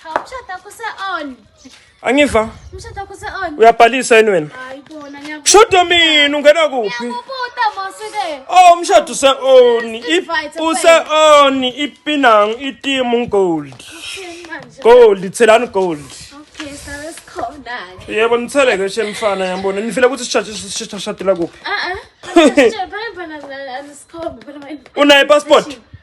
Umshado wakho use-on. Angiva. Umshado wakho use-on. Uyabhalisa yini wena? Hayi bona ngiyakubona. Mshado mina ungena kuphi? Ngiyakubuta mosike. Oh umshado use-on. Use-on ipinang itimu gold. Gold thelani gold. Okay, sabe sikhona ke. Yebo nithele ke shemfana yambona. Nifile ukuthi sishaje sishadela kuphi? Ah ah. Unaye passport?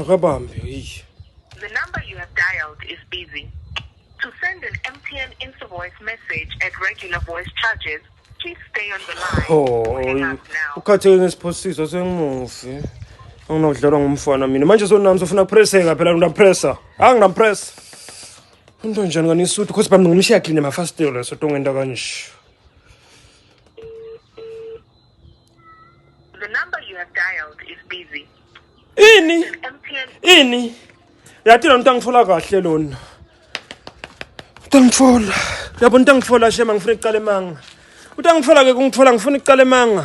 akabambe yiyi The number you have dialed is busy. To send an MTN invoice message at regular voice charges, please stay on the line. Oh, or hang up now. ukhatheke ngesiphosiso sengimufi anginakudlalwa ngumfana mina manje sonami sofuna kupreseka phela ngingapressa hayi ngingapressa into njani kanisuthu khosi bami ngimshiya clean emafasitelo sotonga into kanje The number you have dialed is busy. Ini? MTN. Ini? Yathi lo mntu angithola kahle lona. Utangithola. Yabo mntangithola shema ngifuna icala emanga. Utangithola ke kungithola ngifuna icala emanga.